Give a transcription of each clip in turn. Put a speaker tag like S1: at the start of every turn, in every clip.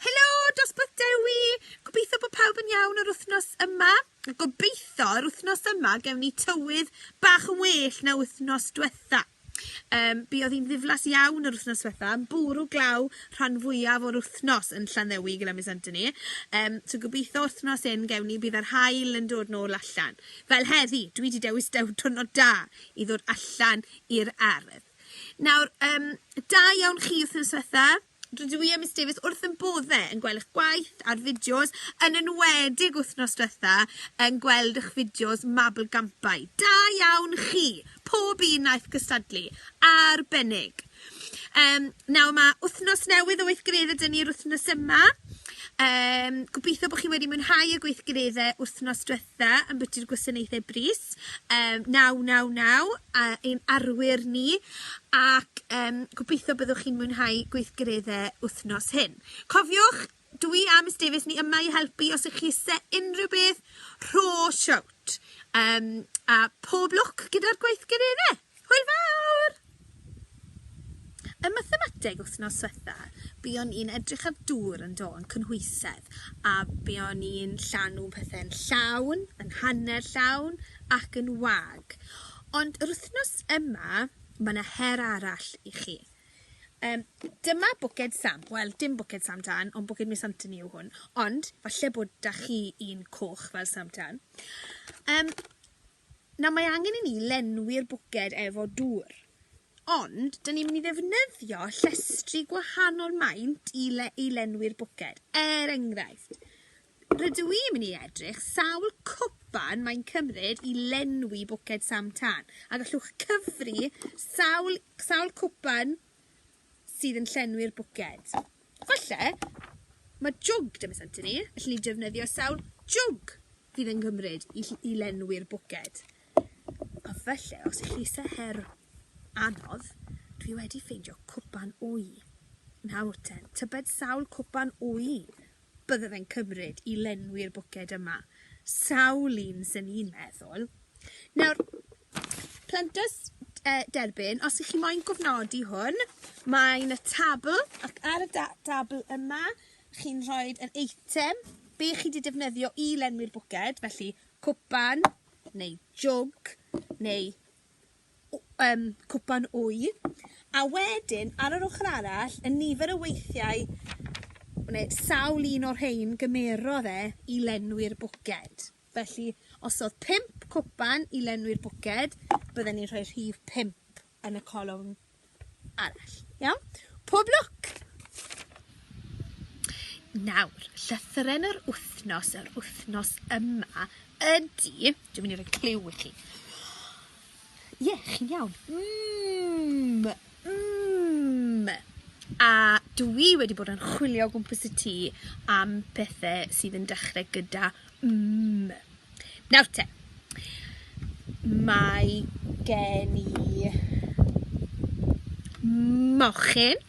S1: Helo, dosbarth Dewi! Gobeithio bod pawb yn iawn yr wythnos yma. Gobeithio yr wythnos yma gewn ni tywydd bach yn well na wythnos diwetha. Um, bu oedd hi'n ddiflas iawn yr wythnos diwetha, yn bwrw glaw rhan fwyaf o'r wythnos yn Llanddewi gyda mis Antoni. Um, so gobeithio wythnos hyn gewn ni bydd yr hael yn dod nôl allan. Fel heddi, dwi wedi dewis dew twrnod da i ddod allan i'r ardd. Nawr yym da iawn chi wythnos dwetha, rydw i a Miss Davies wrth ein boddau yn gweld eich gwaith a'r fideos, yn enwedig wythnos dwetha yn gweld eich fideos mabolgampau. Da iawn chi, pob un wnaeth cystadlu, arbennig. Um, nawr mae wythnos newydd o weithgareddau dyn ni'r wythnos yma. Um, gobeithio bod chi wedi mwynhau y gweithgareddau wythnos dwetha. Dda ambiti'r gwasanaethau brys yym naw naw naw a ein arwyr ni ac yym gobeithio byddwch chi'n mwynhau gweithgaredde wthnos hyn. Cofiwch dwi a Miss Davies ni yma i helpu os y'ch chi ise unrhyw beth rho shout. Yym a pob lwc gyda'r gweithgaredde. Hwyl fawr! Ym mathemateg wthnos swetha buon i'n edrych ar dŵr yn do yn cynhwysedd a buon i'n llanw pethe'n llawn, yn hanner llawn ac yn wag. Ond yr wthnos yma ma' 'na her arall i chi. Yym dyma bwced Sam, wel dim bwced Sam Tân ond bwced Miss Anthony yw hwn, ond falle bod 'da chi un coch fel Sam Tân. Yym Nawr mae angen i ni lenwi'r bwced efo dŵr ond 'dyn ni'n myn' i ddefnyddio llestri gwahanol maint i le- i lenwi'r bwced er enghraifft rydw i myn' i edrych sawl cwpan mae'n cymryd i lenwi bwced sam tân a gallwch cyfri sawl sawl cwpan sydd yn llenwi'r bwced. Falle mae jwg 'da Miss Anthony, felly ni'n defnyddio sawl jwg fydd yn gymryd i ll- i lenwi'r bwced. A falle os ych chi isie her anodd, dwi wedi ffeindio cwpan wy. Nawr ten, tybed sawl cwpan wy Byddaf yn cymryd i lenwi'r bwced yma sawl un swn i'n meddwl. Nawr, plentyrs e, derbyn, os ych chi moyn gofnodi hwn, mae yna tabl, ac ar y da dabl yma, chi'n rhoi yr eitem be chi wedi defnyddio i lenwi'r bwced, felly cwpan, neu jwg, neu yym cwpan wy, a wedyn, ar yr ochr arall, y nifer o weithiau, neu sawl un o'r rhein gymerodd e i lenwi'r bwced. Felly, os oedd pump cwpan i lenwi'r bwced, bydden ni'n rhoi rhif pump yn y colofn arall. Iawn? Pob lwc! Nawr, llythyren yr wythnos yr wythnos yma ydy... Dwi'n mynd i roi cliw i chi. Ie, yeah, chi'n iawn. Mmm, mmm. A dwi wedi bod yn chwilio o gwmpas y tŷ am pethau sydd yn dechrau gyda mmm. Nawr te, mae gen i mochyn,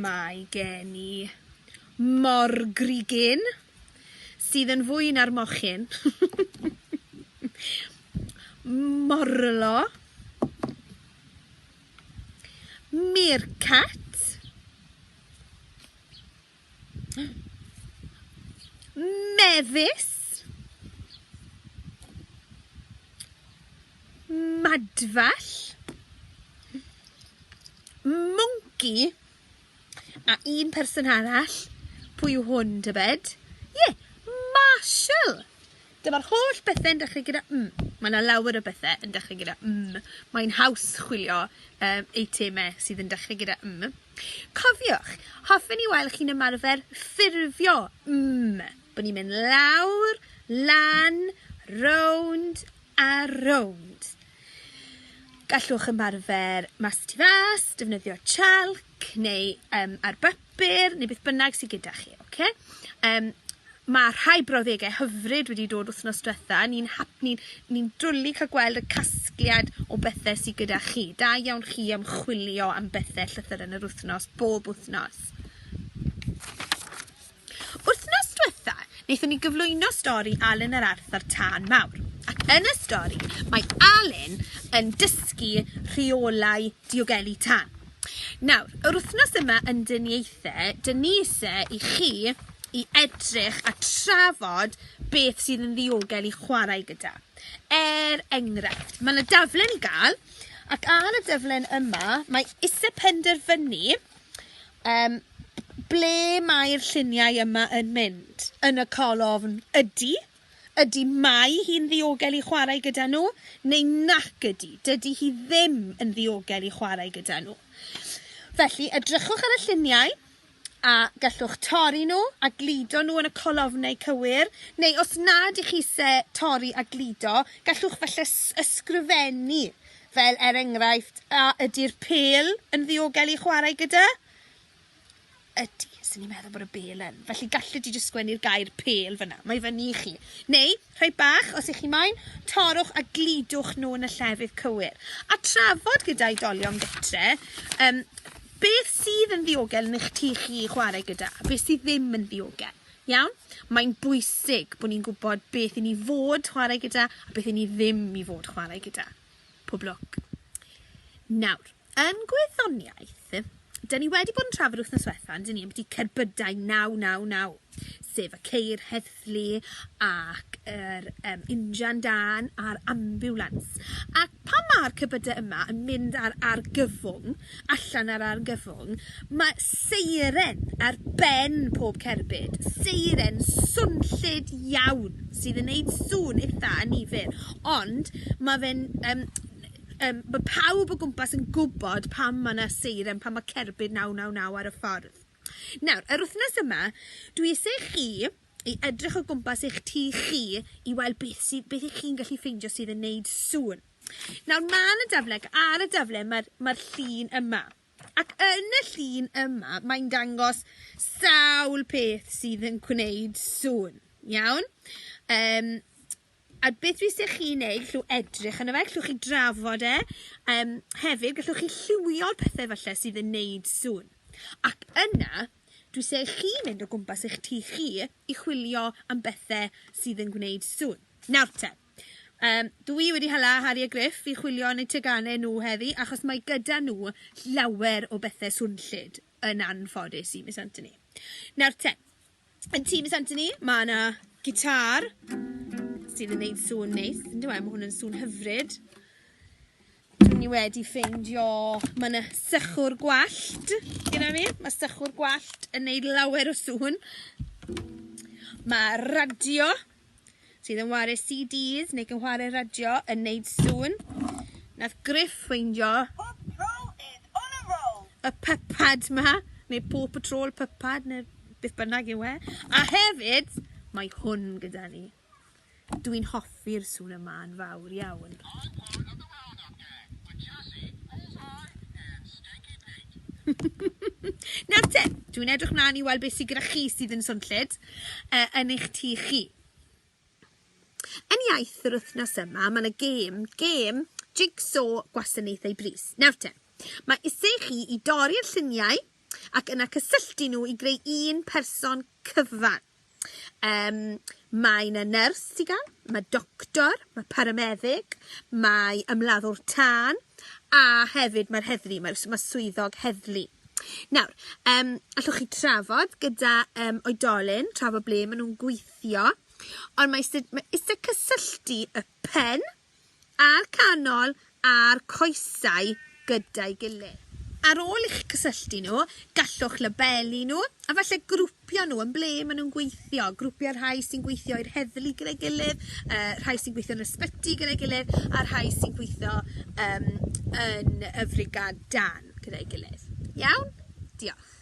S1: mae gen i morgrugyn sydd yn fwy na'r mochyn, morlo, meerkat. Mefus. Madfall. Mwnci. A un person arall. Pwy yw hwn, tybed? Ie, yeah, Marshall. Dyma'r holl bethe'n dechrau gyda m. Mae yna lawer o bethau yn dechrau gyda m. Mae'n haws chwilio um, eitemau sydd yn dechrau gyda m. Cofiwch, hoffen i wael chi'n ymarfer ffurfio mm, bo ni'n mynd lawr, lan, rownd a rownd. Gallwch ymarfer mas y tu fas, defnyddio chalc neu um, ar bapur neu beth bynnag sydd gyda chi, oce? Okay? Um, Ma' rhai brawddege hyfryd wedi dod wthnos dwetha, ni'n hap- ni'n ni'n dwli ca'l gweld y casgliad o bethe sy gyda chi. Da iawn chi am chwilio am bethe llythyren yr wthnos, bob wthnos. Wthnos dwetha, nethon ni gyflwyno stori Alun a'r Arth a'r Tân Mawr, ac yn y stori mae Alun yn dysgu rheolau diogelu tân. Nawr, yr wythnos yma yn Dyn Ieithe, dyn ni ise i chi i edrych a trafod beth sydd yn ddiogel i chwarae gyda. Er enghraifft, mae yna daflen i gael, ac ar y daflen yma, mae ise penderfynu um, ble mae'r lluniau yma yn mynd. Yn y colofn ydy, Ydy mae hi'n ddiogel i chwarae gyda nhw, neu nac ydy, dydy hi ddim yn ddiogel i chwarae gyda nhw. Felly, edrychwch ar y lluniau, a gallwch torri nhw a gludo nhw yn y colofnau cywir, neu os nad ych chi se torri a gludo, gallwch falle ysgrifennu, fel er enghraifft, a ydy'r pêl yn ddiogel i chwarae gyda? Ydi, so ni'n meddwl bod y bêl yn. Felly gallet ti jyst sgwennu'r gair pêl fyna. Mae fyny i chi. Neu, rhai bach, os ych chi moyn, torrwch a gludwch nhw yn y llefydd cywir. A trafod gyda oedolion gytre, um, beth sydd yn ddiogel yn eich tu chi i chwarae gyda, a beth sydd ddim yn ddiogel. Iawn? Mae'n bwysig bod ni'n gwybod beth i ni fod chwarae gyda a beth i ni ddim i fod chwarae gyda. Pob lwc. Nawr, yn gwyddoniaeth, da ni wedi bod yn trafod wythnos diwetha', on'd 'yn ni, ambyti cerbydau naw naw naw, sef y ceir heddlu ac yr yym injan dân a'r ambiwlans, ac pan ma'r cerbyde yma yn mynd ar argyfwng, allan ar argyfwng, mae seiren ar ben pob cerbyd, seiren swnllyd iawn sydd yn neud sŵn itha annifyr, ond ma' fe'n yym yym ma' pawb o gwmpas yn gwbod pam ma' 'na seiren pan ma' cerbyd naw naw naw ar y ffordd. Nawr yr wthnos yma dwi isie chi i edrych o gwmpas eich tŷ chi i weld beth sy beth 'ych chi'n gallu ffeindio sydd yn neud sŵn. Nawr man y dafle ac ar y dafle mae'r mae'r llun yma ac yn y llun yma mae'n dangos sawl peth sydd yn gwneud sŵn, iawn? Um, a beth fi eisiau chi wneud, llw edrych yna fe, llwch chi drafod e, um, hefyd gallwch chi lliwio'r pethau falle sydd yn wneud sŵn. Ac yna, dwi eisiau chi mynd o gwmpas eich tŷ chi i chwilio am bethau sydd yn gwneud sŵn. Nawr te, Yym, dw i wedi hala Harri a Griff i chwilio yn eu teganau nhw heddi, achos mae gyda nhw llawer o bethe swnllyd, yn anffodus i Miss Anthony. Nawr te, yn tŷ Miss Anthony, mae yna gitâr sydd yn neud sŵn neis, yndyw e? Mae hwn yn sŵn hyfryd. Dw i wedi ffeindio, mae yna sychwr gwallt gyda fi. Mae sychwr gwallt yn neud lawer o sŵn. Mae radio sydd yn wario CDs neu gynhwario radio yn neud sŵn. Nath Griff ffeindio y pypad ma, neu Paw Patrol pypad, neu beth bynnag yw e. A hefyd, mae hwn gyda ni. Dwi'n hoffi'r sŵn yma yn fawr iawn. Nawr te, dwi'n edrych mlaen i weld beth sydd gyda chi sydd yn swnllyd. uh, yn eich tu chi. Yn iaith yr wythnos yma, mae yna gêm, gêm jigsaw gwasanaethau bris. Nawr te, mae eisiau chi i dorri'r lluniau ac yna cysylltu nhw i greu un person cyfan. Um, mae yna nyrs ti gael, mae doctor, mae parameddyg, mae ymladdwr tân, A hefyd mae'r heddlu, mae mae swyddog heddlu. Nawr, um, allwch chi trafod gyda um, oedolyn, trafod ble maen nhw'n gweithio, ond mae eisiau, mae eisiau cysylltu y pen a'r canol a'r coesau gyda'i gilydd. Ar ôl i'ch cysylltu nhw, gallwch labelu nhw a falle grwpio'r P'un a nhw yn ble ma' nhw'n gweithio grwpia' rhai sy'n gweithio i'r heddlu gyda'i gilydd yy rhai sy'n gweithio yn ysbyty gyda'i gilydd a rhai sy'n gweithio yym yn y frigâd dân gyda'i gilydd. Iawn? Diolch.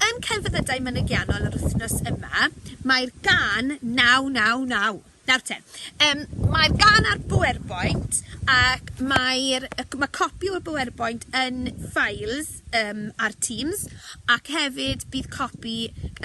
S1: Yn celfyddydau mynygiannol yr wythnos yma, mae'r gân Naw Naw Naw. Nawr te. Yym mae'r gan ar Bowerboint ac mae'r yy ma' copi o'r Bowerboint yn files yym ar Teams ac hefyd bydd copi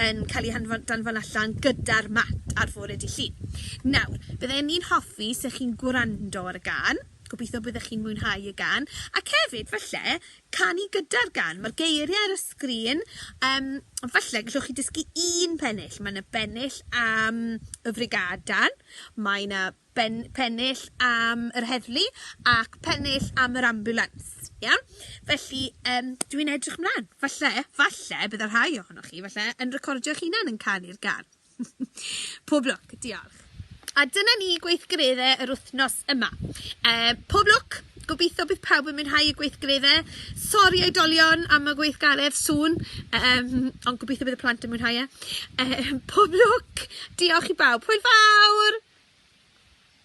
S1: yn ca'l 'i hanfon danfon allan gyda'r mat ar fore dy' Llun. Nawr bydden i'n hoffi 'se chi'n gwrando ar y gân, gobitho byddech chi'n mwynhau y gân ac hefyd falle canu gyda'r gan ma'r geirie ar y sgrin yym falle gellwch chi dysgu un pennill ma' 'na bennill am y frigadan mae 'na ben- pennill am yr heddlu ac pennill am yr ambiwlans iawn felly yym dwi'n edrych mlan falle falle bydda rhai ohonoch chi falle yn recordio'ch hunan yn canu'r gân. Pob lwc, diolch. A dyna ni gweithgaredde yr wythnos yma. Yy pob lwc, gobitho bydd pawb yn mwynhau y gweithgaredde. Sori oedolion am y gweithgaredd sŵn yym ond gobitho bydd y plant yn mwynhau e. Yy pob lwc, diolch i bawb. Hwyl fawr!